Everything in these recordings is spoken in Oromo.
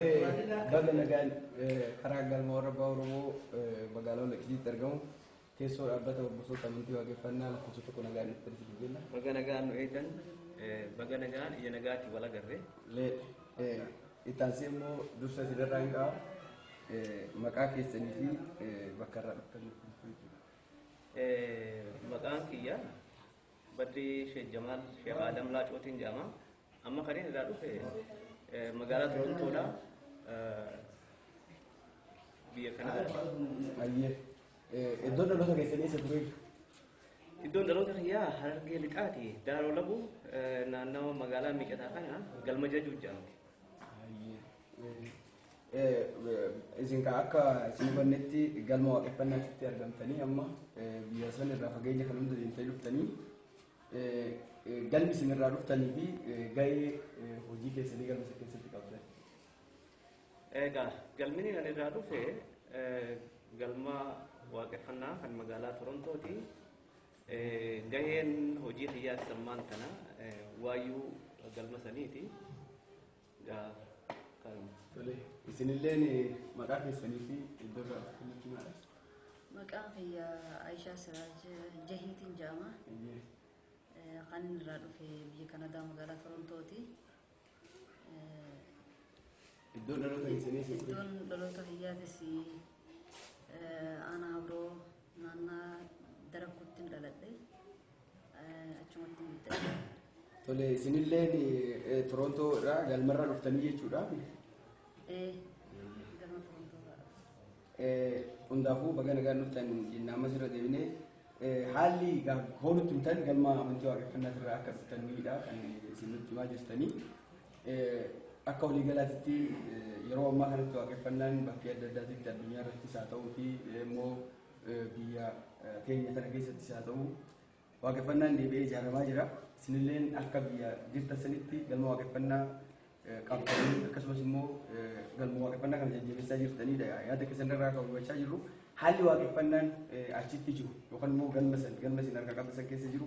Baga nagaan karaa galma warra abbaa Oromoo magaalaa Walaqitiitti argamu keessoo dhaabbata hordoftoota amantii waaqeffannaa lakkoofsa tokko nagaan dhuftan isin jenna. Baga nagaan nu eegdan. Baga nagaan ija nagaatiin wal agarre. Itti aansee immoo dursa isin irraa hin qabu. Maqaa keessanii fi bakka irraa dhuftan nuuf himtu jechuudha. Maqaan kiyya Badrii Sheek Jamaal Sheek Aadam Laacootiin jedhama. Amma kan inni irraa dhufe magaalaa Torontoodha. Biyya Kanaadaa. Ayyee. Iddoon dhaloota keessanii isa tureef. Iddoon dhaloota kiyyaa Harargee Lixaati. Daaroo Labuu naannawa magaalaa Miicataa kana galma jajuu jedhamti. Isin kan akka isin hubannetti galma waaqeffannaatti argamtanii amma biyya san irraa fageenya kan hunda deemtanii dhuftanii Galmi isin irraa dhuftanii fi ga'ee hojii keessanii galma isa keessatti qabdan. Egaa galmini ani irraa dhufe galma waaqeffannaa kan magaalaa Torontooti. Gaheen hojii kiyyaas ammaan kana waayuu galma saniiti. Tole, isinilleen maqaa keessanii fi iddoo irraa dhuftan nutti himaa. Maqaan kiyya Ayishaa Siraaj Jahiitiin jedhama. Eeyyee. Eh, Kan inni irraa dhufe biyya Kanadaa magaalaa Torontooti. Eh, Iddoon dhaloota keessanii fi Iddoon dhaloota kiyyaatis eh, aanaa Abroo Naannaa Darakkuuttin dhaladhe. Achumattin guddadhe. Tole isinilleen Torontoo irraa galmarra dhuftanii jechuudha. Ee, galma Torontoo irraa dhufe. Hundaafuu baga nagaan dhuftan jenna ammas irra deebinee haalli hoolutti himtan galma amantii waaqeffannaa irraa akka dhuftanidha kan isin nutti himaa jirtanii. Akka waliigalaatitti yeroo ammaa kanatti waaqeffannaan bakkee adda addaatitti addunyaa irrattis haa ta'uu fi immoo biyya keenya kana keessattis haa ta'u waaqeffannaan deebi'ee ijaaramaa jira. Isinilleen akka biyya jirtan sanitti galma waaqeffannaa qabdanii akkasumas immoo galma waaqeffannaa kana jajjabeessaa jirtanidha. Yaada keessan irraa kan hubachaa jirru haalli waaqeffannaan achitti jiru yookaan immoo galma san galma isin harkaa qabdan san keessa jiru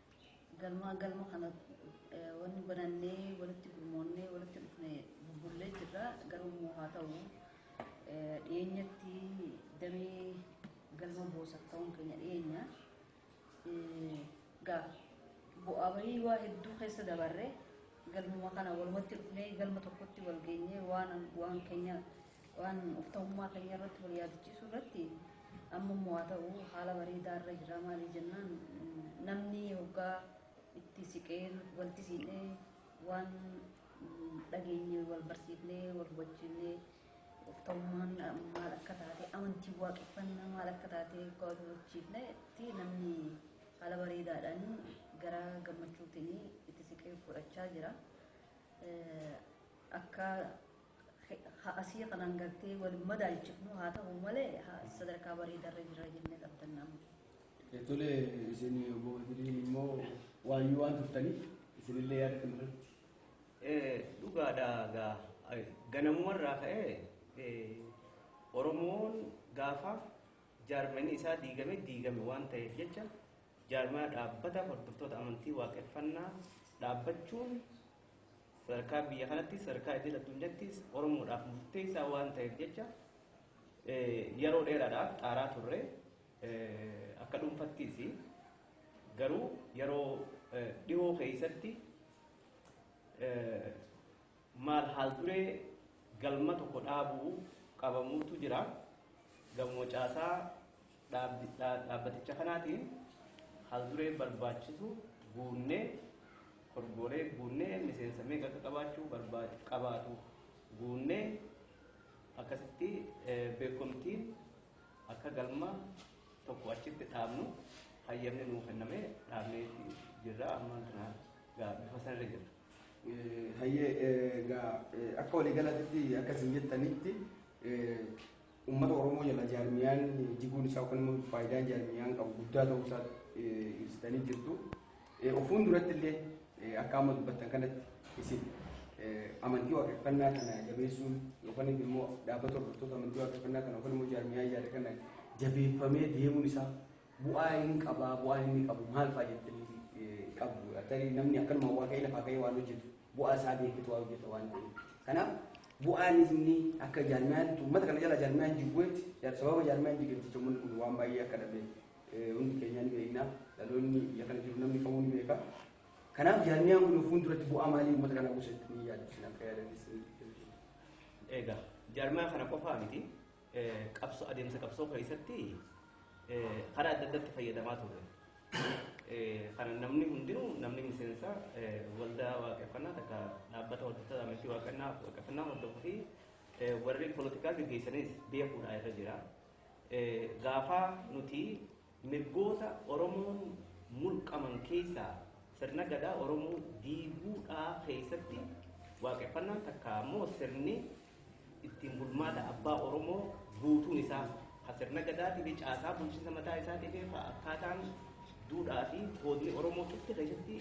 Galmaa galma kana wanni banannee walitti gurmoonnee walitti dhufne bubbullee jirra garuu immoo haa ta'u dhiyeenyatti damee galma boosaaf ta'uun keenya dhiyeenya gaa bu'aa bahii waa hedduu keessa dabarre galmuma kana walumatti dhufnee galma tokkotti wal geenyee waan waan keenya Waan of ta'ummaa keenya irratti wal yaadachiisuu irratti amma immoo haa ta'u haala bareedaa irra jirra maaliif jennaan namni hoggaa itti siqee walti siidhee waan dhageenye wal barsiifnee wal hubachiifnee of ta'ummaan maal akka taate amantii waaqeffannaa maal akka taate hoggaa wal hubachiifne itti namni haala bareedaadhaan gara gammachuutiin itti siqee fudhachaa jira akka Ha'asii kanaan gartee wal hin madaalchifnu haa ta'u malee sadarkaa bareedarra jirra jennee abdanna amma. Tole isin obbo Badiriin immoo waayyuu waan turtaniif isinillee yaada kana irratti. Dhugaadha gaa ganamumarraa ka'ee Oromoon gaafa jaarmayni isaa diigame diigame waan ta'eef jecha jaarmaya dhaabbata hordoftoota amantii waaqeffannaa dhaabbachuun Sadarkaa biyya kanattis sadarkaa idil addunyattis Oromoodhaaf murteessaa waan ta'eef jecha yeroo dheeraadhaaf xaaraa turre akka dhuunfattis garuu yeroo dhihoo keessatti maal haal duree galma tokko dhaabuu qabamuutu jira gamuma caasaa Dhaabbaticha kanaatiin haalduree barbaachisu guunnee korgoolee guunnee miseensa meeqa akka qabaachuu qabaatu guunnee akkasitti beekomtiin akka galma tokko achitti dhaabnu hayyamni nuu kennamee dhaabnee jirra ammaan tana gaa bifa sanarra jirra. Hayyee gaa akka waliigalatitti akkasiin jettanitti Ummata Oromoo jala jaarmiyaan jiguun isaa yookaan immoo faayidaan jaarmiyaan qabu guddaa ta'uu isaa ibsitanii jirtu. Of fuulduratti illee akka amma dubbattan kanatti isin amantii waaqeffannaa kana jabeessuun yookaan immoo dhaabbata hordoftoota amantii waaqeffannaa kana yookaan immoo jaarmiyaa ijaarre kana jabeeffamee deemuun isaa Bu'aa in qabaa? Bu'aan inni qabu maal fa'a jettanii qabdu? Tarii namni akkanuma waa ka'ee lafaa ka'ee waan hojjetu bu'aa isaa beeketu waa hojjeta waan ta'eef. Kanaaf bu'aan inni akka jaarmiyaatti uummata kana jala jaarmiyaan jibbuetti sababa jaarmiyaan jigeef jecha uummanni kun waan baay'ee akka dhabe hundi keenyaa ni beekna. Dhaloonni biyya kana jiru namni kamuu ni beeka. Kanaaf jaarmiyaan kun fuulduratti bu'aa maalii uummata kana buusa jettanii yaaddu isin akka yaadanis ni Egaa jaarmiyaa kana qofaa miti. qabsoo adeemsa qabsoo keessatti karaa adda addaatti fayyadamaa ture. Kana namni hundinuu namni miseensa waldaa waaqeffannaa takka dhaabbata hordoftoota amantii waaqeffannaa waaqeffannaa hordofuu fi warri poolitikaa gaggeessanis beekuudhaa irra jira. Gaafa nuti Mirgoota Oromoon mulqaman keessaa sirna Gadaa Oromoo diiguu dha keessatti Waaqeffannaan takkaa ammoo sirni ittiin bulmaata abbaa Oromoo guutuun isaa ka sirna Gadaatii fi caasaa bulchinsa mataa isaatii fi ka akkaataan duudhaa fi koodni Oromoo cufti keessatti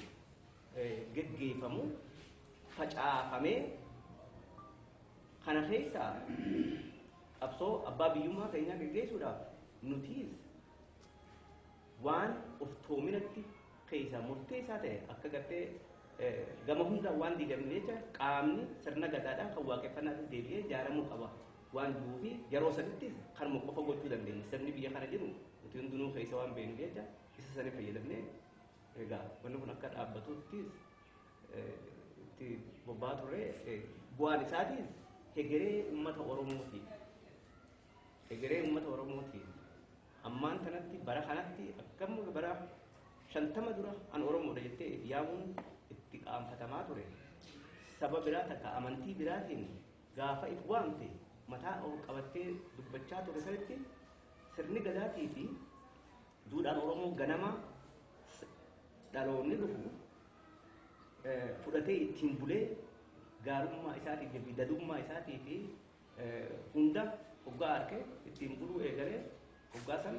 geggeeffamu facaafamee kana keessaa Qabsoo abbaa biyyummaa keenyaa geggeessuudhaaf nutiis waan oftoominatti keessaa murteessaa ta'e akka gartee gama hundaan waan diigamne jecha qaamni sirna gadaadhaa kan waaqeffannaatis deebi'ee ijaaramuu qaba waan jiruu fi yeroo sanittis kanuma qofa gochuu dandeenya sirni biyya kana jiru nuti hundinuu keessa waan beeknu jecha isa sanii fayyadamnee egaa wanni kun akka dhaabbatuuttis itti bobba'aa ture. Bu'aan isaatiin hegeree uummata Oromootiif hegeree uummata Oromootiif ammaan kanatti bara kanatti akkam bara shantama dura an Oromoodha jettee itti yaamuun itti qaanfatamaa ture. Saba biraa takka amantii biraatiin gaafa itti waamte mataa ol qabattee dubbachaa ture sanitti sirni gadaatii fi duudhaan Oromoo ganamaa dhaloonni dhufu fudhatee ittiin bulee gaarummaa isaatii fi dadummaa isaatii fi hunda hoggaa arke ittiin buluu eegalee hoggaa san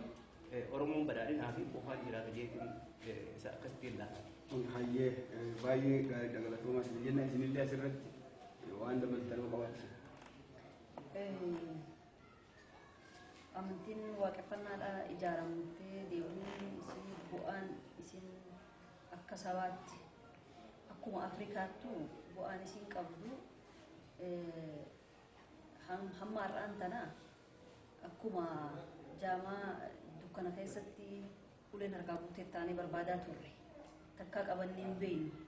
Oromoon badhaadhinaa fi quufaan jiraata jeetiin isa akkasittiin laata. Hayyee baay'ee gaariidha galatoomaa isin jenna isinillee asirratti waan dabaltanuu qabaachisa. Amantiin waaqeffannaadhaa ijaaramtee deebi'uun isii bu'aan isiin akka sabaatti akkuma Afrikaattuu bu'aan isiin qabdu hamma har'aan tana akkuma jaamaa dukkana keessatti uleen harkaa guutee taanee barbaadaa turre takkaa qabannee hin beeknu.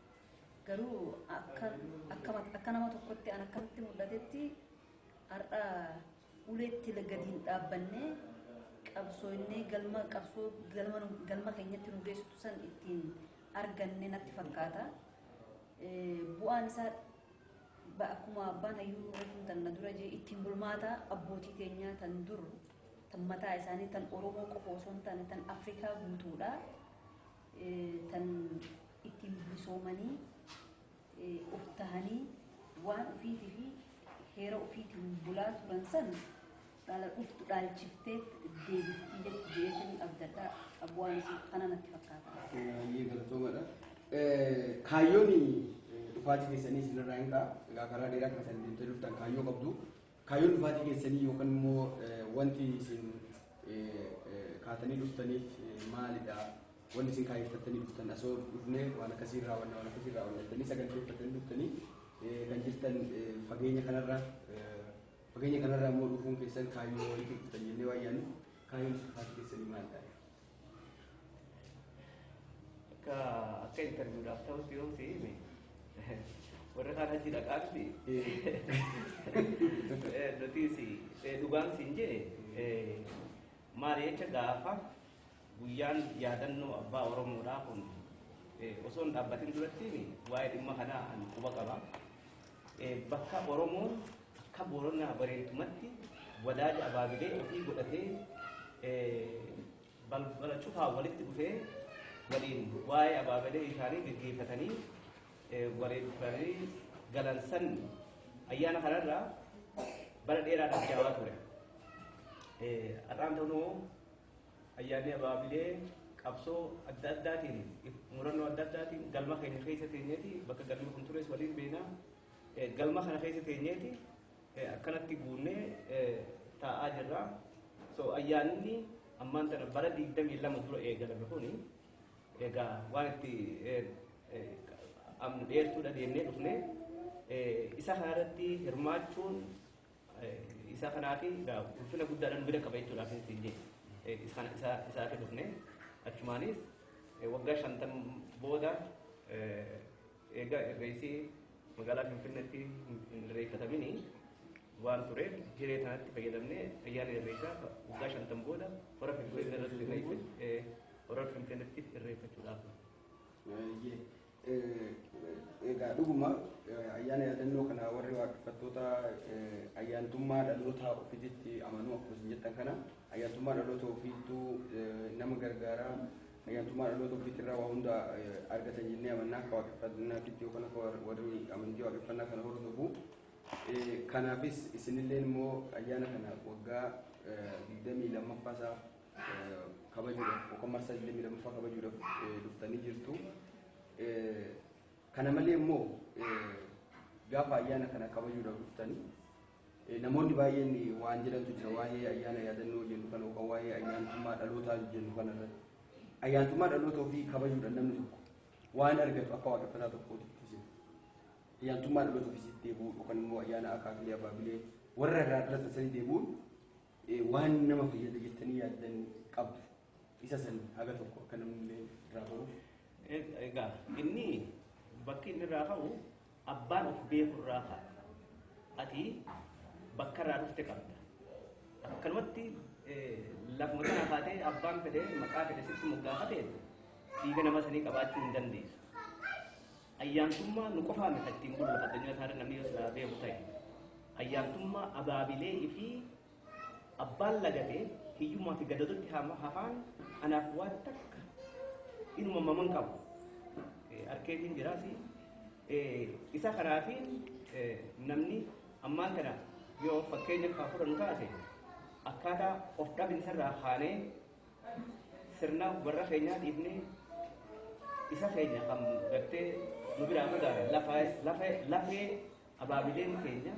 Garuu akka nama tokkotti an akkamitti mul'atetti Har'a ulee itti gadi hin dhaabbannee qabsooynee galma qabsoo galma keenyatti nu geessitu san ittiin arganne natti fakkaata. Bu'aan isaa akkuma abbaan hayyuu reefuun tan na dura jee ittiin bulmaata abbootii teenyaa tan dur tan mataa isaanii tan Oromoo qofa osoo hin taane tan Afrikaa guutuudha. Tan ittiin bilisoomanii of tahanii waan ufiitifi heera ufiitiin bulaa turan san dhala dhuftu dhaalchiftee deebifti je'eetin abdadha abwaani sun kana natti fakkaata. Baay'ee galatoomadha. Kaayyoon dhufaatii keessanii isinirraa hin ka'a. Egaa karaa dheeraa kana kan deemtee dhuftan kaayyoo qabdu. Kaayyoon dhufaatii keessanii yookan immoo wanti isin kaatanii dhuftaniif maalidha? Wanti isin kaayyeffattanii dhuftan asoo dhufnee waan akkasii raawwanna waan akkasii raawwanna jettanii saganteeffattanii dhuftanii kan jirtan fageenya kanarra fageenya kanarra immoo dhufuun keessan kaayyoo itti dhuftan jennee waan yaadnuuf kaayyoon dhufaatii keessanii maalidha? Akka akka interviidhaaf ta'utti yoo si hime warri kaan achi dhaqaatti nutis dhugaan siin jedhe maali jecha gaafa guyyaan yaadannoo abbaa Oromoodhaa kun osoo hin dhaabbatin duratti waa'ee dhimma kanaa ani quba qaba. Bakka Oromoon Akka Booranaa Bareeddumatti wadaaja abaabilee ofii godhatee balbala cufaan walitti dhufee waliin waa'ee abaabilee isaanii geggeeffatanii wareeffamanii galan san ayyaana kanarraa bara dheeraadhaaf jaawaa ture. Har'aan ta'uu ayyaanni abaabilee qabsoo adda addaatiin murannoo adda addaatiin galma keenya keessa teenyeeti bakka galmi kun tures waliin beekna Galma kana keessa teenyeeti akkanatti guunnee taa'aa jirra. So ayyaanni ammaan tana bara 22 dura eegalame kuni egaa waan itti amna dheertuudha deemnee dhufne isa kanarratti hirmaachuun isa kanaafi ulfina guddaadhaan bira qaba jechuudhaaf isin jedhe isaan isa isaati dhufne achumaanis waggaa shantan booda Eega Irreessi magaalaa Finfinneetti hin irreeffatamini waan tureef hiree kanatti fayyadamnee ayyaana Irreessaa ka waggaa shantam booda hora Finfinneerratti irreeffachu ee hora Finfinneetti irreeffachuudhaaf. Baay'ee egaa dhuguma ayyaana yaadannoo kana warri waaqeffattoota ayyaantummaa dhaloota ofiititti amanuu akkuma isin jettan kana ayyaantummaa dhaloota ofiittuu nama gargaara Ayyaantummaa dhaloota ofiitirraa waa hunda argatan jennee amanna akka waaqeffannaatitti yookaan akka warri amantii waaqeffannaa kana hordofu. Kanaafis isinilleen immoo ayyaana kana waggaa 22ffaa isaa kabajuudhaaf yookaan marsaa 22ffaa kabajuudhaaf dhuftanii jirtu. Kana malee immoo gaafa ayyaana kana kabajuudhaaf dhuftanii Namoonni baay'een waan jedhantu jira waa'ee ayyaana yaadannoo jennu kana yookaan waa'ee ayyaantummaa dhalootaa jennu kana irratti. Ayyaantummaa dhaloota ofii kabajuudhaan namni tokko waan argatu akka waaqeffataa tokkootti ibsite. Ayyaantummaa dhaloota ofiisitti deebi'uu yookaan immoo ayyaana akaakilee abaabilee warra irraa dhalatan sanii deebi'uun waan nama fayyada jettanii yaaddan qabdu. Isa san haga tokko akka namni illee irraa baruuf. Egaa inni bakki inni irraa ka'u Abbaan of beeku irraa ka'a. Ati bakka irraa dhufte qabda. Akkanumatti lafuma kanaa kaatee abbaan fedhe maqaa fedhe sitti moggaafate dhiiga nama sanii qabaachuu hin dandeessu. Ayyaantummaa nu qofaa miti ittiin bulu lafa addunyaa isaarra namni yoo silaa beeku ta'e. Ayyaantummaa abaabilee fi Abbaan lagate hiyyummaa fi gadadotti hafaan anaaf waan takka inuma maman qabu arkeetiin jiraasi isa kanaafiin namni ammaan kana yoo fakkeenya kaa fudhannu taate akkaataa of dhabinsa irraa kaanee sirna warra keenyaa dhiifnee isa keenya kan gartee nu biraa fagaate lafee Abaabileen keenya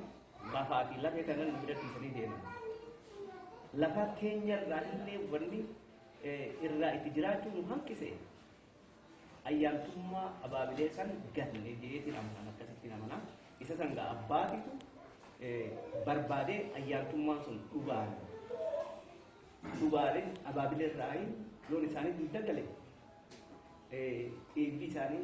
lafaa fi lafee kana nu bira dhiisanii deeman. Lafa keenya irraa illee wanni irraa itti jiraachuu nu hanqise ayyaantummaa abaabilee san ganne jeetiin amanaan akkasittiin amanaa. Isa san gaa abbaatitu barbaadee ayyaantummaan sun dhugaan dhugaaleen abaabilee irraa loon isaanii dugda gale dhiigni isaanii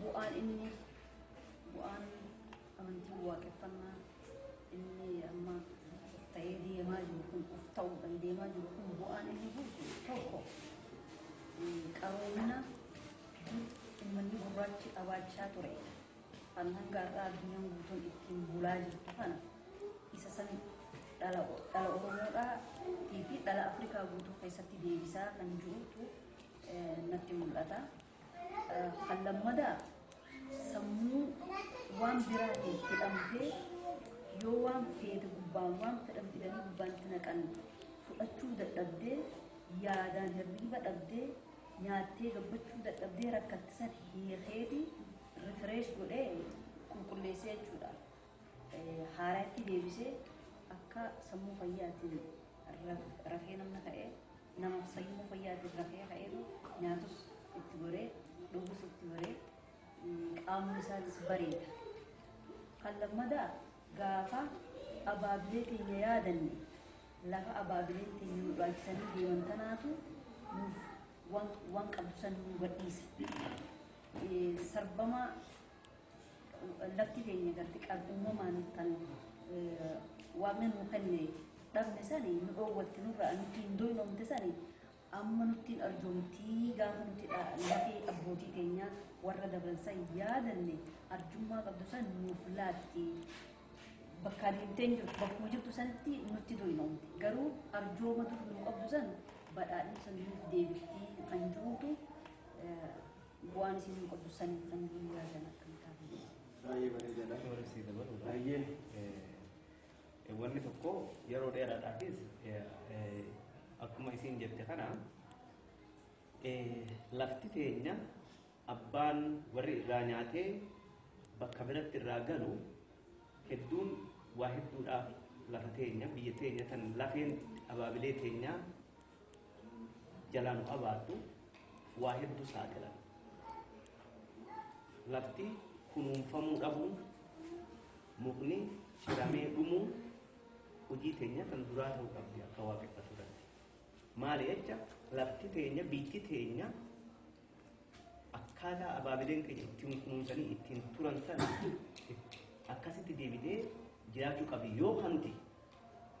Bu'aan inni bu'aan amantiin waaqeffannaa inni amma ta'ee deemaa jiru kun of ta'uudhaan deemaa jiru kun bu'aan inni buusu tokko qaroomina ummanni gurraachi qabaachaa ture kan hanga har'aa addunyaan guutuun ittiin bulaa jirtu kana isa san dhala Oromoodhaa fi dhala Afrikaa guutuu keessatti deebisaa kan jirutu natti mul'ata. Kan lammadaa sammuu waan biraatiin hidhamtee yoo waan feete gubbaan waan fedhan fidanii gubbaan itti naqan fudhachuu dadhabdee yaadaan hirriiba dhabdee nyaattee gabbachuu dadhabdee rakkatte san hiikeeti refresh godhee qulqulleessee jechuudha. haarayatti deebisee akka sammuu fayyaatiin rafee namni ka'e nama sammuu fayyaatiin rafee ka'eetu nyaatus itti goree dhugus itti goree qaamni isaatis bareeda. Kan lammadaa gaafa abaabilee teenya yaadanne lafa abaabileen teenya nu dhaachisanii deeman tanaatu nuuf waan qabdu san nu gadhiisa. Sarbamaa Lafti keenya garti qab uumamaan kan waaqni nuu kenne dhabne sani nu dhoowwatte nurraa nutti hin doynoomte sani amma nutti hin arjoomtii gaafa nuti lafee abbootii keenyaa warra dabran san yaadanne arjummaa qabdu san nuuf laatti bakkaa deemtee hin jirtu bakkuma jirtu sanitti nutti doynoomte garuu arjooma dur nuu qabdu san badhaadhina san nuuf deebiftii kan jiruutu Bu'aan isin hin qabdu san hin san guyyaa san akkam taatanii. Baay'ee bareedaadha. Warri si dabalu. Baay'een. Wanni tokko yeroo dheeraadhaafis akkuma isiin jette kana lafti teenya abbaan warri irraa nyaatee bakka biratti irraa galu hedduun waa hedduudhaaf lafa teenya biyya teenya tan lafeen abaabilee teenyaa jalaa nu abaartu waa hedduu saaxilan. Lafti kunuunfamuu dhabuun, mukni ciramee dhumuun hojii teenya tan duraa ta'uu qabdi akka waaqeffatu irratti. Maali jecha lafti teenya biitti teenya akkaataa abaabileen keenya ittiin kunuunsanii ittiin turan sana akkasitti deebitee jiraachuu qabi yoo kan nuti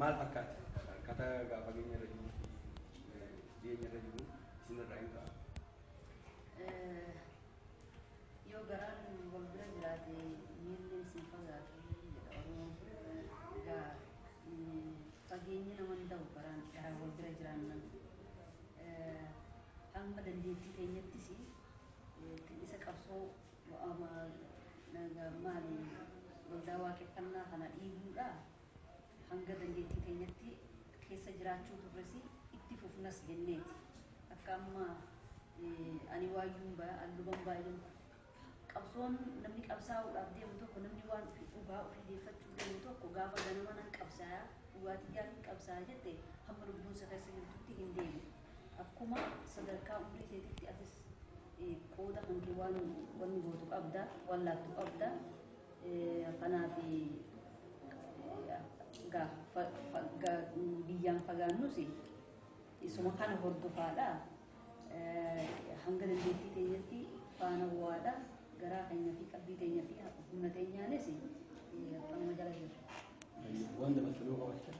maal fakkaatti fakkaata akkata gaa fageenya irra jiruu fi dhiyeenya irra jiru isin irraa hin ka'a. Yoo garaan wal bira jiraate miilleen sin fagaatu jedha Oromoon. Egaa fageenyi nama hin ta'u garaan garaan wal bira jiraannan. Hamma dandeettii keenyattis isa qabsoo maali waldaa waaqeffannaa kana dhiibuudhaa Hanga dandeettii teenyatti keessa jiraachuu turres itti fufnas jenneeti. Akka amma ani waayyuun ba'a, an luban ba'a jennu. Qabsoon namni qabsaa'uudhaaf deemu tokko, namni waan ofii, dhugaa ofii deeffachuuf deemu tokko gaafa ganama nan qabsaaya, dhugaa tiyyaafin qabsaaya jette hamma lubbuun si keessa jirtutti hin deemu. Akkuma sadarkaa umrii teetitti atis qooda kan kee waan wanni gootu qabda, waan laattu qabda. Kanaaf biyyaan fagaannus isuma kana hordofaadha. Hanga dandeettii keenyatti faana bu'aadha. Garaa keenya fi qalbii keenya fi humna keenyaanis kanuma jala jirra. Waan dabaltu nuu qabaachaa.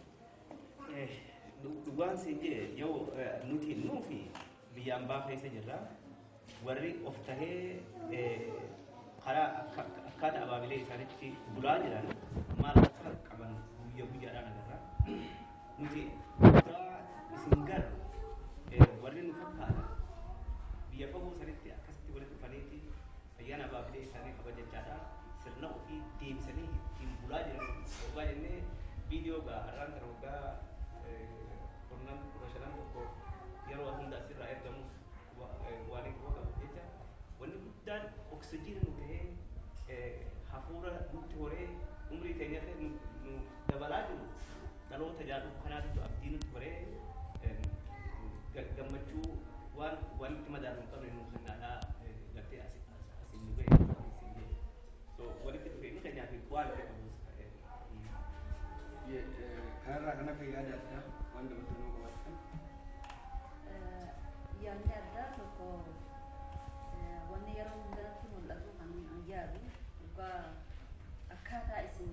Dhugaan siin jee yoo nuti nuufi Biyya ambaa keessa jirra. Warri of tahee karaa akkaata abaabilee isaanitti bulaa jiran maal akka qaban guyya guyyaadhaan agarra. Nuti dhugaa isin garru warri nu fakkaatan biyya fagoo sanitti akkasitti walitti dhufaniiti Ayyaana Abaa fi Deessaanii kabajachaa dha. Sirna ofii deebisanii ittiin bulaa jiran oggaa jenne viidiyoo egaa har'aan tana waggaa kurnan, kudha shanan tokko yeroo hunda as irraa ergamuuf waaniin quba qabuuf jecha wanni guddaan oksijiina nuu tahee hafuura nutti horee umrii teenya illee nuuf dabalaa jiru, Dhaloota ijaa dhufu kanaatitu abdii nutti horee gammachuu waan waan itti madaalu hin qabne nuu kennaadhaa gartee as as nu ga'e siin jedhe. So walitti dhufeenyi keenyaa fi bu'aan itti qabus kanarraa kan hafe yaada addaa waan dabaltan yoo qabaattan. Yaadni addaa tokko wanni yeroo hundaatti mul'atu kan yaadu dhugaa akkaataa isin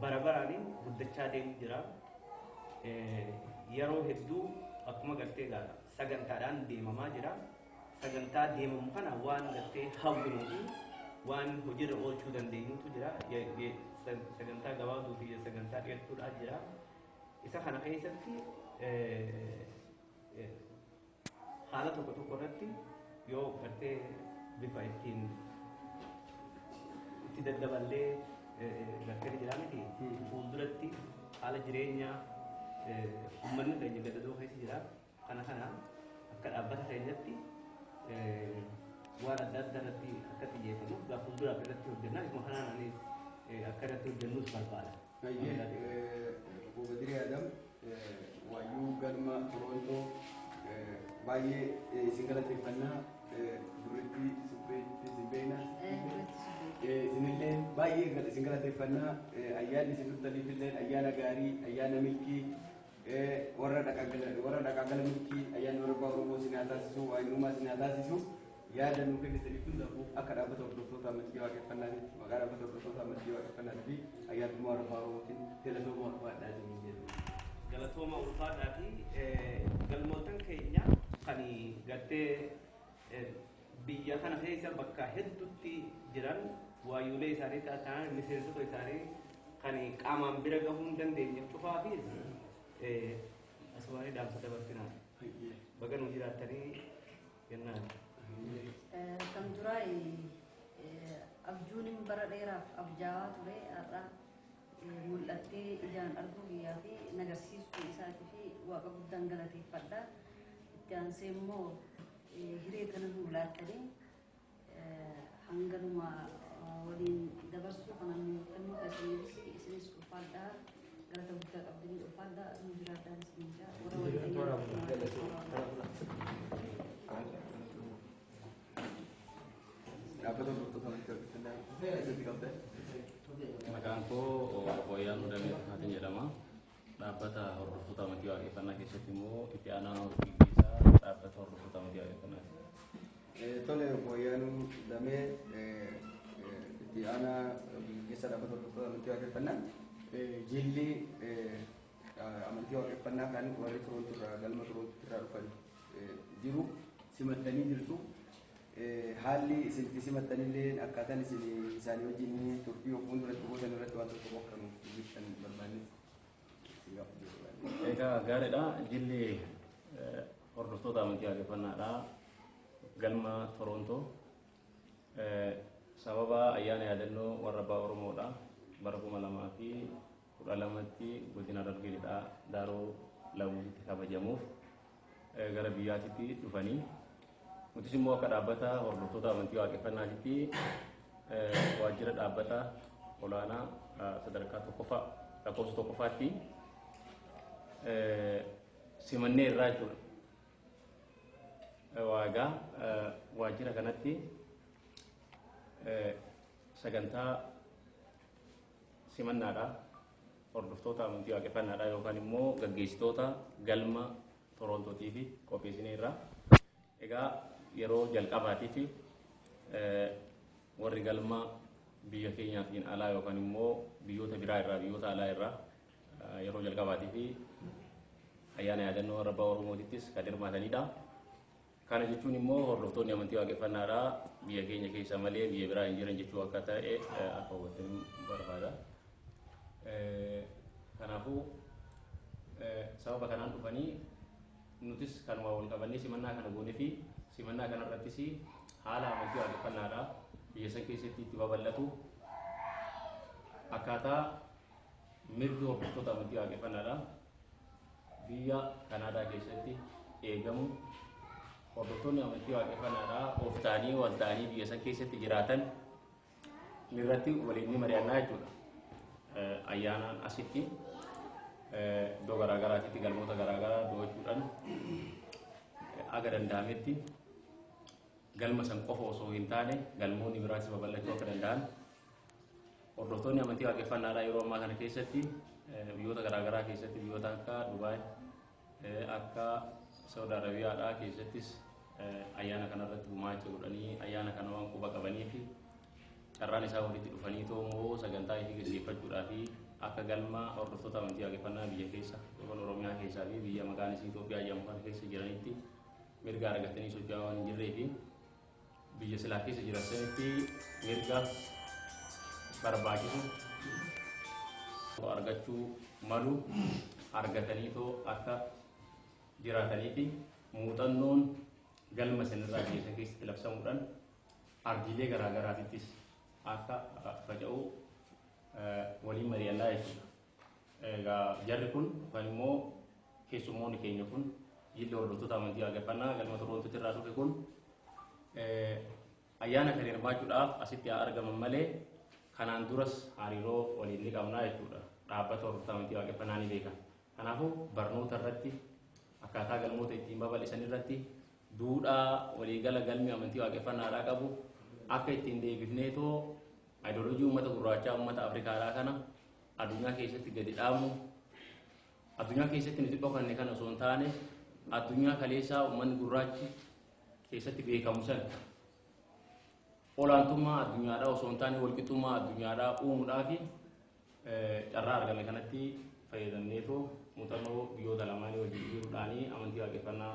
bara baraan guddachaa deemu jira. Yeroo hedduu akkuma gartee egaa sagantaadhaan deemamaa jira. Sagantaa deemamu kana waan gartee hawwinuu fi waan hojiirra oolchuu dandeenyutu jira. Sagantaa gabaabduu fi sagantaa dheertuudhaa jira. Isa kana keessatti Haala tokko tokko irratti yoo gartee bifa ittiin itti daddaballee gartee ni jiraa miti fuulduratti haala jireenyaa ummanni keenya gadadoo keessa jira kana kana akka dhaabbata keenyatti waan adda addaa irratti akka xiyyeeffannuuf gaa fuulduraaf irratti hojjennaa isuma kanaan ani akka irratti hojjennus barbaada. Hayyee obbo Badiree Adam waayyuu galma Torontoo baay'ee isin galateeffannaa durritti supheetti isin beekna. Isinillee baay'ee isin galateeffannaa ayyaanni isin turtaniifillee ayyaana gaarii ayyaana milkii warra dhaqaa gala milkii ayyaanni warra abbaa Oromoo isin haa taasisu waayinummaa isin haa taasisu Yaada nuu kennitaniif hundaafuu akka Dhaabbata Hordoftoota Amantii Waaqeffannaatitti maqaa Dhaabbata Hordoftoota Amantii Waaqeffannaatii fi Ayyaantummaa Arafaa Oromootiin galatoomaa ulfaadhaa isiniin jenna. Galatoomaa ulfaadhaatii galmoottan keenya kan gartee biyya kana keessa bakka heddutti jiran waayyuulee isaanii ta'an miseensota isaanii kan qaamaan bira gahuu hin dandeenye cufaafis asumaanii dhaamsa dabarsinaa. Baga nuu jiraattanii Kan duraa abjuun bara dheeraaf abjaawaa ture har'a mul'attee ijaan arguu biyyaa fi nagarsiisuu isaatii fi waaqa guddaan galateeffadha. Itti aansee immoo hiree kana nuu laattanii Hanga dhuma waliin dabarsuu kanaan nu kennuu keessaniifis isinis ulfaadhaa galata guddaa qabdanii ulfaadhaa nu jiraadhaan isiniin jaa warra Maqaan koo Hooyaan Udamee Tufaatiin jedhama. Dhaabbata Hordoftoota Amantii Waaqeffannaa keessatti immoo itti aanaa hojii gaggeessaa Dhaabbata Hordoftoota Amantii Waaqeffannaati. Tole obbo Ayyaanuu Lamee itti aanaa hojii gaggeessaa Dhaabbata Hordoftoota Amantii Waaqeffannaa jilli amantii Waaqeffannaa kan warri Toroonto irraa galma Toroonto irraa dhufan jiru simattanii jirtu. Haalli isin itti simattanillee akkaataan isin isaanii wajjin turtii of fuulduratti gootan irratti waan tokko tokko kan hojjetan barbaanne isin gaafachuu barbaanne. Egaa gaariidha. Jilli eh, hordoftoota amantii waaqeffannaadhaa galma Torontoo eh, sababa ayyaana yaadannoo warra abbaa Oromoodha bara kuma lamaa fi 12tti Godina Harargee Lixaa Daaroo Lamuusitti kabajamuuf gara biyyaatitti dhufanii nutis immoo akka dhaabbata hordoftoota amantii waaqeffannaatitti waajjira dhaabbata olaanaa sadarkaa tokkoffaa lakkoofsa tokkoffaatti simannee irraa jechuudha. Waagaa waajjira kanatti sagantaa Simannaadhaa hordoftoota amantii waaqeffannaadhaa yookaan immoo gaggeessitoota galma Torontootiifi qopheessineerra. Egaa yeroo jalqabaatiif warri galma biyya keenyaatiin alaa yookaan immoo biyyoota biraa irraa biyyoota alaa irraa yeroo jalqabaatiif ayyaana yaadannoo warra abbaa Oromootittis kan hirmaatanidha. Kana jechuun immoo hordoftoonni amantii waaqeffannaadhaa biyya keenya keessa malee biyya biraa hin jiran jechuu akka ta'e akka hubattan barbaada. Kanaafuu sababa kanaan dhufanii nutis kanuma wal qabannee simannaa kana goone fi simannaa kana irrattis haala amantii waaqeffannaadhaa biyya san keessatti itti babal'atu akkaataa mirgi hordoftoota amantii waaqeffannaadhaa Biyya Kanaadaa keessatti eegamu hordoftoonni amantii waaqeffannaadhaa of ta'anii wal ta'anii biyya san keessatti jiraatan irratti waliin ni mari'annaa jechuudha. Ayyaanaan asitti iddoo garaa garaatitti galmoota garaa garaa do'achuudhaan aga danda'ametti galma san qofa osoo hin taane galmoonni biraas babal'achuu akka danda'an Hordoftoonni amantii waaqeffannaadhaa yeroo ammaa kana keessatti biyyoota garaagaraa keessatti biyyoota akka Dubaay akka Saudi Arabiyaadhaa keessattis ayyaana kanarratti gumaacha godhanii ayyaana kana waan quba qabanii fi carraan isaa walitti dhufanii too immoo sagantaa ishee gaggeeffachuudhaa fi akka galma hordoftoota amantii waaqeffannaa biyya keessa yookaan Oromiyaa keessaa fi biyya maqaan isii Itoophiyaa jedhamu kana keessa jiranitti mirga argatanii socho'aa waan hin jirree fi biyya silaa keessa jiran sanitti mirga barbaachisu argachuu malu argataniitoo akka jiraataniifi muuxannoon galma sanirraa geessan keessatti labsamuudhaan ardiilee garaa garaatittis akka faca'u waliin mari'annaa jechuudha. Egaa jarri kun yookaan immoo keessummoonni keenya kun jilli hordoftoota amantii waaqeffannaa galma Toroontotti irraa dhufe kun ayyaana kan hirmaachuudhaaf asitti haa argaman malee kanaan duras hariiroo waliin ni qabnaa jechuudha. Dhaabbata hordoftoota amantii waaqeffannaa ni beekan. Kanaafuu barnoota irratti akkaataa galmoota ittiin babal'isan irratti duudhaa waliigala galmi amantii waaqeffannaadhaa qabu akka ittiin deebifneetoo ayidooloojii uummata gurraachaa uummata Afrikaadhaa kana Addunyaa keessatti gadi dhaamu addunyaa keessatti nuti dhokanne kan osoo hin taane addunyaa kaleessaa uummanni gurraachi keessatti beekamu sana olaantummaa addunyaadhaa osoo hin taane walqixxummaa addunyaadhaa uumuudhaa fi carraa argame kanatti fayyadamneetoo muuxannoo biyyoota lamaanii wajjin jiruudhaanii amantii waaqeffannaa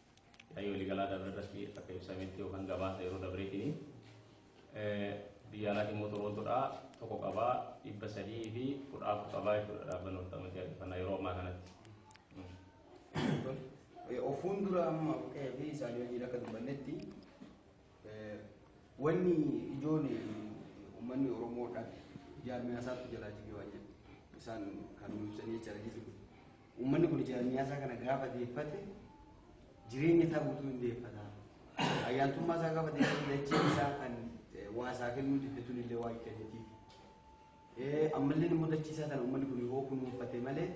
Yaa'ii waliigalaa dabre irratti akka ibsametti yookaan gabaasa yeroo dabreetiin biyya alaatiin immoo Toroontoodhaa tokko qabaa dhibba sadii fi kudha afur qabaa jechuudha dhaabbanni walitti amantii adeeffannaa yeroo ammaa kanatti. Ofuun dura amma qe'ee fi isaanii wajjin akka dubbannetti Wanni ijoon ummanni Oromoo dhabe jaarmiyaa isaatu jalaa jige waan jedhu isaan kan nu ibsanii jechaadha jechuudha. Ummanni kun jaarmiyaa isaa kana gaafa deeffate jireenya isaa guutuu hin deeffata. Ayyaantummaa isaa gaafa deeffate dachee isaa kan waa isaa kennuu diddetuun illee waa hin kennitiif. Ammallee immoo dachee isaa kana ummanni kun yoo kunuunfate malee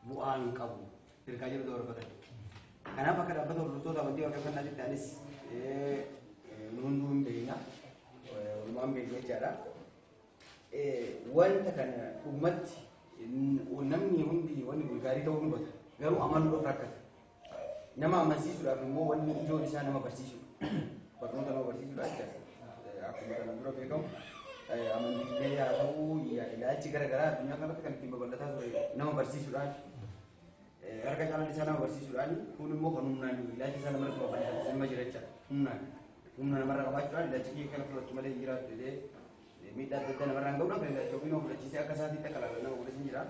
bu'aa hin qabu ergaa jedhu dabarfatan. Kanaaf akka dhaabbata hordoftoota amantii waaqeffannaa jetti anis nu hunduu hin beekna walumaan beekna jechaadha. Wanta kana dhugumatti namni hundi wanni kun gaarii ta'uu hubata garuu amanuudhaaf rakkata. Nama amansiisuudhaaf immoo wanni ijoon isaa nama barsiisudha. Barnoota nama barsiisudha jechaadha. Akkuma kana dura beekamu amantiilee haa ta'u ilaalchi gara garaa addunyaa kanarratti kan ittiin babal'ataa ture nama barsiisuudhaan harka caalaan isaa nama barsiisuudhaan kun immoo kan humnaan ilaalchi isaa namarratti babal'atu nama jira jechaadha. Humnaan humna namarra qabaachuudhaan ilaalchi kiyya kana fudhatu malee hin jiraatu jedhee miidhaa adda addaa namarraan ga'uu danda'a. Ilaalcha ofii nama fudhachiisee akka isaatiitti akka ilaalan nama godhas hin jira.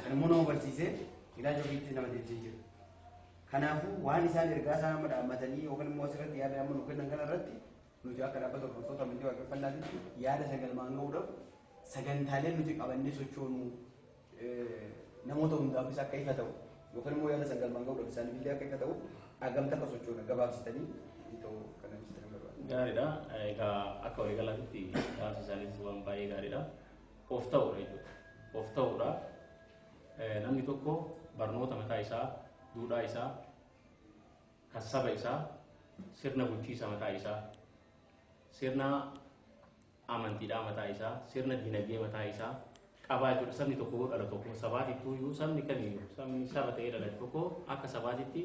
Kan immoo nama barsiisee ilaalcha ofiitti nama deebisee jira. Kanaafuu waan isaan ergaa isaan amma dhaammatanii yookaan immoo asirratti yaada amma nu kennan kanarratti nuti akka dhaabbata hordoftoota amantii waaqeffannaatitti yaada sagalmaan ga'uudhaaf sagantaalee nuti qabannee sochoonu namoota hundaafis akka ifa ta'u yookaan immoo yaada sangaan maanga'uu dhabu isaaniif illee akka ifa ta'u hagamta akka sochoona gabaabsitanii itoo kana ibsitan barbaada. Gaariidha. Egaa akka waliigalaatti gaafsi isaaniis waan baay'ee gaariidha. Of ta'uudha jechuudha. Of ta'uudha. Namni tokko barnoota mataa isaa, duudhaa isaa, kan saba isaa, sirna bulchiisa mataa isaa, sirna amantiidhaa mataa isaa, sirna diinagdee mataa isaa qabaa jechuudha. Sabni tokko yoo dhalatu akkuma sabaatittuu iyyuu sabni kamiyyuu sabni saba ta'ee dhalate tokko akka sabaatitti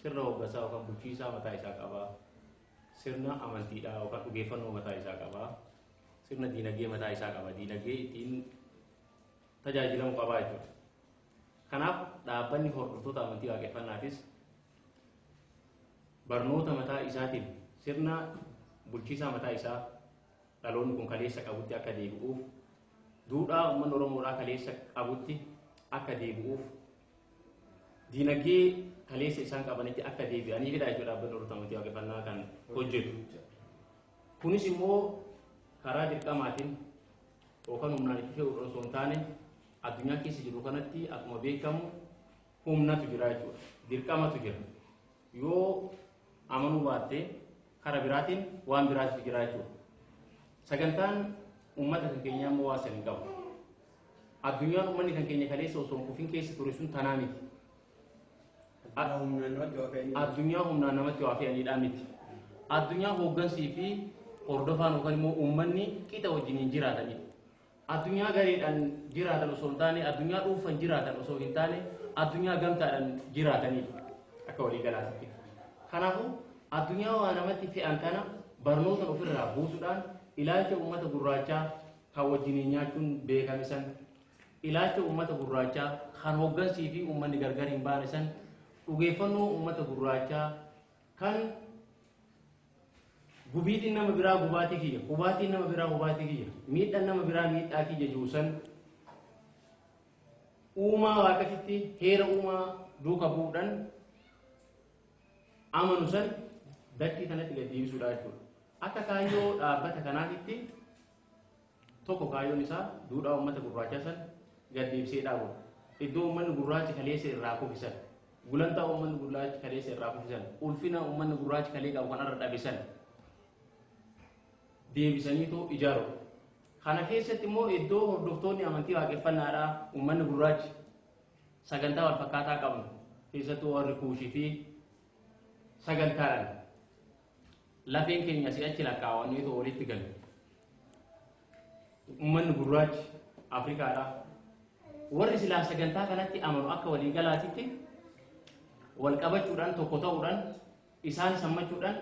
sirna hooggansaa yookaan bulchiisaa mataa isaa qaba. Sirna amantiidhaa yookaan dhugeeffannoo mataa isaa qaba. Sirna diinagdee mataa isaa qaba. Diinagdee ittiin tajaajilamu qabaa jechuudha. Kanaaf dhaabbanni hordoftoota amantii Waaqeffannaatis barnoota mataa isaatiin sirna bulchiisaa mataa isaa dhaloonni kun kaleessa qabutti akka deebi'uuf, duudhaa uummanni Oromoodhaa kaleessa qabutti akka deebi'uuf, diinagdee kaleessa isaan qabanitti akka deebi'aniifidha jechuudha dhaabbanni hordoftoota amantii Waaqeffannaa kan hojjetu. Kunis immoo karaa dirqamaatiin yookan humnaan itti fe'uudhan osoo hin taane addunyaa keessa jirru kanatti akkuma beekamu humnatu jira jechuudha. Dirqamatu jira. Yoo amanuu baatte kara biraatiin waan biraatu jira jechuudha. Sagantaan uummata kan keenyaa immoo waan san hin qabu. Addunyaan uummanni kan keenya kaleessa osoo hin kufin keessa ture sun tanaa miti. addunyaa humnaan namatti waa fe'aniidhaa miti. Addunyaa hooggansii fi hordofaan yookaan immoo uummanni qixa wajjiniin jiraataniidha. Addunyaa gareedhaan jiraatan osoo hin taane, addunyaa dhuunfan jiraatan osoo hin taane, addunyaa gamtaadhaan jiraataniidha akka waliigalaatitti. Kanaafuu addunyaa waa namatti fe'an kana barnoota ofirraa buusuudhaan ilaalcha uummata gurraachaa kan wajjiniin nyaachuun beekame san Ilaalcha uummata gurraachaa kan hooggansii fi uummanni gargar hin baane san dhugeeffannoo uummata gurraachaa kan gubiitiin nama biraa gubaatii kiyya, hubaatiin nama biraa hubaatii kiyya, miidhan nama biraa miidhaa kiyya jiru san uumaa waaqatitti heera uumaa duuka bu'uudhan amanu san dachii tanatti gad deebisuudha jechuudha. Akka kaayyoo dhaabbata kanaatitti Tokko kaayyoon isaa duudhaa ummata gurraachaa san gad deebisee dhaabuudha. Iddoo ummanni gurraachi kaleessa irraa kufe san, gulantaa ummanni gurraachi kaleessa irraa kufe san, ulfina ummanni gurraachi kalee qabu kan har'a dhabe san deebisaniitoo ijaaruudha. Kana keessatti immoo iddoo hordoftoonni amantii waaqeffannaadhaa ummanni gurraachi sagantaa wal fakkaataa qabnu keessattuu warri kuushii fi sagantaadhaan Lafeen keenya si'achi lakkaa'amanneetu olitti gale. Ummanni gurraachi Afrikaadhaa warri silaa sagantaa kanatti amanu akka waliigalaatitti wal qabachuudhaan tokko ta'uudhaan isaan sammachuudhaan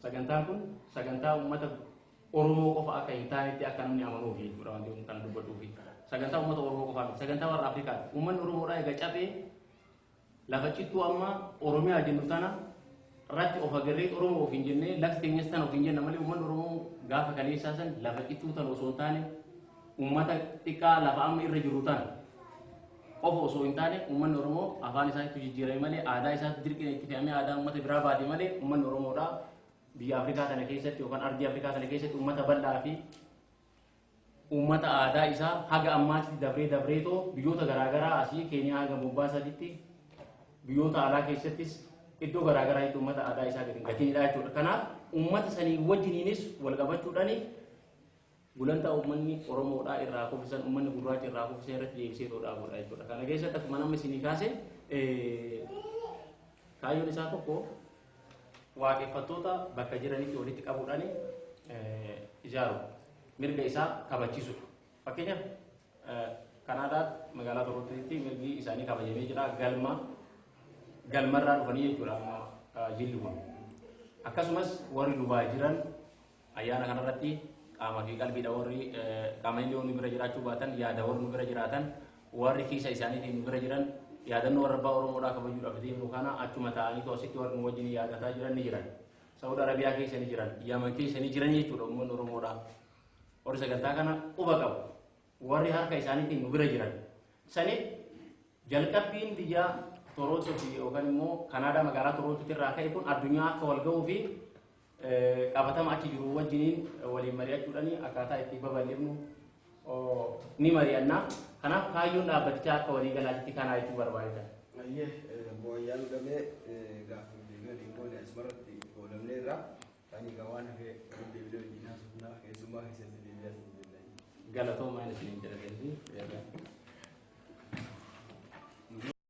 sagantaan kun sagantaa uummata Oromoo qofa akka hin taanetti akka namni amanuufi jechuudha wanti kun kana dubbadhuufi. Sagantaa uummata Oromoo qofaa miti sagantaa warra Afrikaati. Uummanni Oromoodhaa egaa caphee Lafa cittuu amma Oromiyaa jennu tana irratti of agarree Oromoo ofiin jennee lafti teenyas tana ofiin jenna malee uummanni Oromoo gaafa kaleessaa san lafa cittuu tana osoo hin taane uummata xiqqaa lafa amma irra jirru tana qofa osoo hin taane uummanni Oromoo afaan isaatti jijjiirame malee aadaa isaatti dirqiin itti fe'amee aadaa uummata biraa baate malee uummanni Oromoodhaa biyya Afrikaa kana keessatti yookaan ardii Afrikaa kana keessatti uummata bal'aa fi Uummata aadaa isaa haga ammaatitti dabree dabreetoo biyyoota garaa garaa asii Keeniyaa haga Mombaasaatitti biyyoota alaa keessattis iddoo garaa garaatti uummata aadaa isaa gadi hin gatinidha jechuudha. Kanaaf uummata sanii wajjiniinis wal qabachuudhaan gulantaa uummanni Oromoodhaa irraa kufisan uummanni gurraacha irraa kufisan irratti deebisee too dhaabudha jechuudha. Kana keessatti akkuma nama isinii kaase kaayyoon isaa tokko Waaqeffattoota bakka jiranitti walitti qabuudhaan ijaaru mirga isaa kabachiisudha. Fakkeenyaaf Kanaadaa magaalaa Torontotti mirgi isaanii kabajamee jira galma galmarraa dhufanii jechuudha amma jilli kun. Akkasumas warri Dubaay jiran Ayyaana kana irratti qaama fi qalbiidha warri qaamanillee yoo nu bira jiraachuu baatan yaada warri nu bira jiraatan warri kiisa isaaniitiin nu bira jiran yaadannoo warra abbaa Oromoodhaa kabajuudhaaf deemnu kana achuma taa'aniitu asitti warri nu wajjin yaadataa jiran ni jiran. Saud Arabiyaa keessa ni jiran, Yaman keessa ni jiran jechuudha uummanni Oromoodhaa. Warri sagantaa kana quba qabu. Warri harka isaaniitiin nu bira jiran. Saniif jalqabbiin biyya Torontoo fi yookaan immoo Kanaadaa magaalaa Torontootti irraa ka'e kun addunyaa akka wal ga'uu fi qabatama achi jiru wajjiniin waliin mari'achuudhaan akkaataa itti babal'ifnu ni mari'anna. Kanaaf kaayyoon dhaabbatichaa akka walii galaatitti kanaa jechuu barbaadna. Ayyee mooyyaan gamee gaaffiif deebii waliin goone asumarratti goolabneerra. Ani egaa waan hafee waliin deebinee wajjin haasofnaa keessummaa keessatti deebi'aa isin jenna. Galatoomaa isiniin jedha deebii.